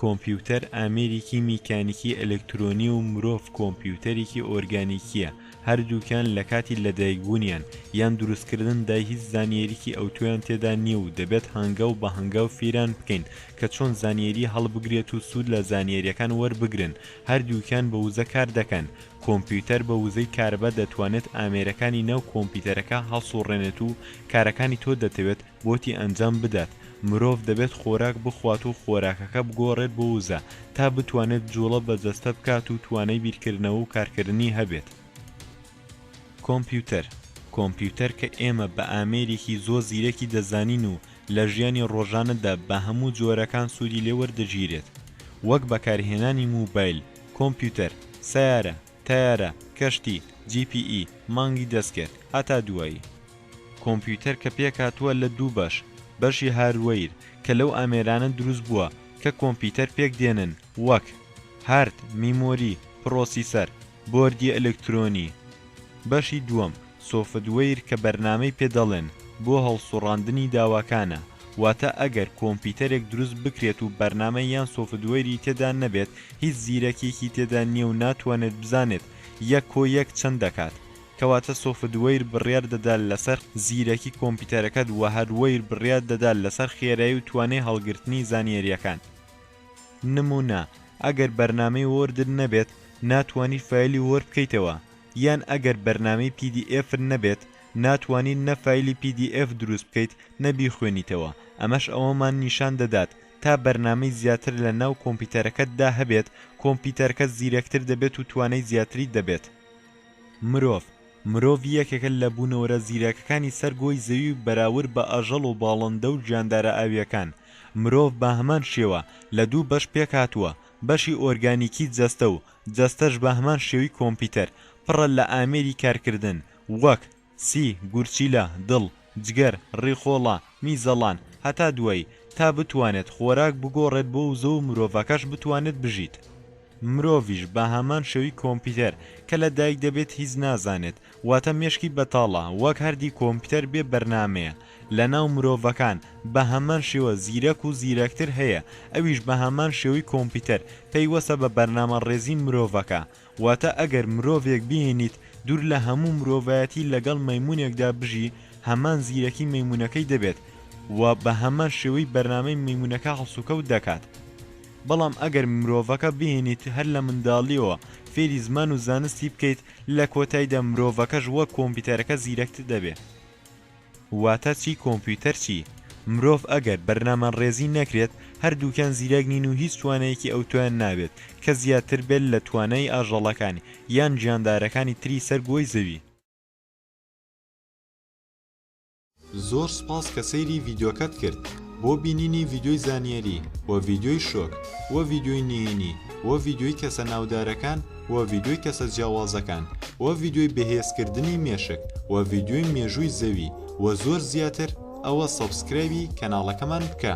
کۆمپیوتەر ئامێرێکی میکانیکی ئەلکترۆنی و مرۆڤ کۆمپیوتەرێکی ئۆرگانیکیە هەردووکیان لە کاتی لەدایکبوونیان یان دروستکردن دای هیچ زانیاریکی ئەوتۆیان تێدا نییە و دەبێت هەنگە و بە هەنگاو فیران بکەین کە چۆن زانیاری هەڵبگرێت و سوود لە زانیاریەکان وەربگرن هەردووکیان بە وزە کار دەکەن کۆمپیوتەر بە وزەی کارەبا دەتوانێت ئامێرەکانی ناو کۆمپیوتەرەکە هەڵسوڕێنێت و کارەکانی تۆ دەتەوێت بۆتی ئەنجام بدات، مرۆڤ دەبێت خۆراک بخوات و خۆراکەکە بگۆڕێت بۆ وزە تا بتوانێت جوڵە بە جەستە بکات و توانای بیرکردنەوە و کارکردنی هەبێت. کۆمپیوتەر، کۆمپیوتەر کە ئێمە بە ئامێرێکی زۆر زیرەکی دەزانین و لە ژیانی ڕۆژانەدا بە هەموو جۆرەکان سوودی لێ وەردەگیرێت وەک بەکارهێنانی موبایل، کۆمپیوتەر، سەیارە، تەیارە، کەشتی، جی پی ئی، مانگی دەستکرد. هەتا دوایی. کۆمپیوتەر کە پێکهاتووە لە دوو بەش، بەشی هاردوەیر کە لەو ئامێرانە دروست بووە کە کۆمپیوتەر پێک دێنن وەک، هارد، میمۆری، پڕۆسیسەر، بۆردی ئەلکترۆنی. بەشی دووەم سۆفتوەیر کە بەرنامەی پێ دەڵێن بۆ هەڵسوڕاندنی داواکانە، واتە ئەگەر کۆمپیتەرێک دروست بکرێت و بەرنامە یان سۆفتوەیری تێدا نەبێت هیچ زیرەکیەکی تێدا نیە و ناتوانێت بزانێت یەک کۆ یەک چەند دەکات کەواتە سۆفتوەیر بڕیار دەدات لەسەر زیرەکی کۆمپیتەرەکەت وە هەردوەیر بڕیار دەدات لەسەر خێرای و توانای هەڵگرتنی زانیەریەکان نمونە ئەگەر بەرنامەی وۆردت نەبێت ناتوانی فایلی وۆرد بکەیتەوە یان ئەگەر بەرنامەی پی دی ئێفت نەبێت ناتوانیت نە فایلی پی دی ئێف دروست بکەیت نە بیخوێنیتەوە ئەمەش ئەوەمان نیشان دەدات تا بەرنامەی زیاتر لە ناو کۆمپیتەرەکەت دا هەبێت کۆمپیتەرکەت زیرەکتر دەبێت و توانای زیاتری دەبێت مرۆڤ مرۆڤ یەکێکە لە بوونەوەرە زیرەکەکانی سەر گۆی زەوی و بەراورد بە ئاژەڵ و باڵندە و گیاندارە ئاوییەکان مرۆڤ بە هەمان شێوە لە دوو بەش پێکهاتووە بەشی ئۆرگانیکی جەستە و جەستەش بە هەمان شێوی کۆمپیتەر پڕە لە ئامێری کارکردن وەک، سی، گورچیلە، دڵ، جگەر، ڕیخۆڵە، میزەڵان، هەتا دوایی، تا بتوانێت خۆراک بگۆڕێت بۆ وزە و مرۆڤەکەش بتوانێت بژیت. مرۆڤیش بە هەمان شێوی کۆمپیتەر کە لە دایک دەبێت هیچ نازانێت واتە مێشکی بەتاڵە وەک هەردی کۆمپیوتەر بێ بەرنامەیە لەناو مرۆڤەکان بەهەمان شێوە زیرەک و زیرەکتر هەیە ئەویش بەهەمان شێوەی کۆمپیوتەر پەیوەستە بە بەرنامە ڕێزی مرۆڤەکە واتە ئەگەر مرۆڤێک بهێنیت دوور لە هەموو مرۆڤایەتی لەگەڵ مەیمونێکدا بژی هەمان زیرەکی مەیمونەکەی دەبێت و بەهەمان شێوەی بەرنامەی مەیمونەکە هەڵسوکەوت دەکات بەڵام ئەگەر مرۆڤەکە بهێنیت هەر لە منداڵیەوە فێری زمان و زانستی بکەیت لە کۆتایدا مرۆڤەکەش وەک کۆمپیوتەرەکە زیرەکتر دەبێ. واتە چی کۆمپیوتەر چی مرۆڤ ئەگەر بەرنامەنڕێزی نەکرێت هەردووکیان زیرەک نین و هیچ توانەیەکی ئەوتۆیان نابێت کە زیاتر بێت لە توانای ئاژەڵەکان یان گیاندارەکانی تری سەر گۆی زەوی. زۆر سوپاس کە سەیری ڤیدیۆکەت کرد بۆ بینینی ڤیدیۆی زانیاری وە ڤیدیۆی شۆک وە ڤیدیۆی نهێنی وە ڤیدیۆی کەسە ناودارەکان وە ڤیدیۆی کەسە جیاوازەکان وە ڤیدیۆی بەهێز کردنی مێشک وە ڤیدیۆی مێژووی زەوی وە زۆر زیاتر ئەوە سەبسکرایبی کەناڵەکەمان بکە.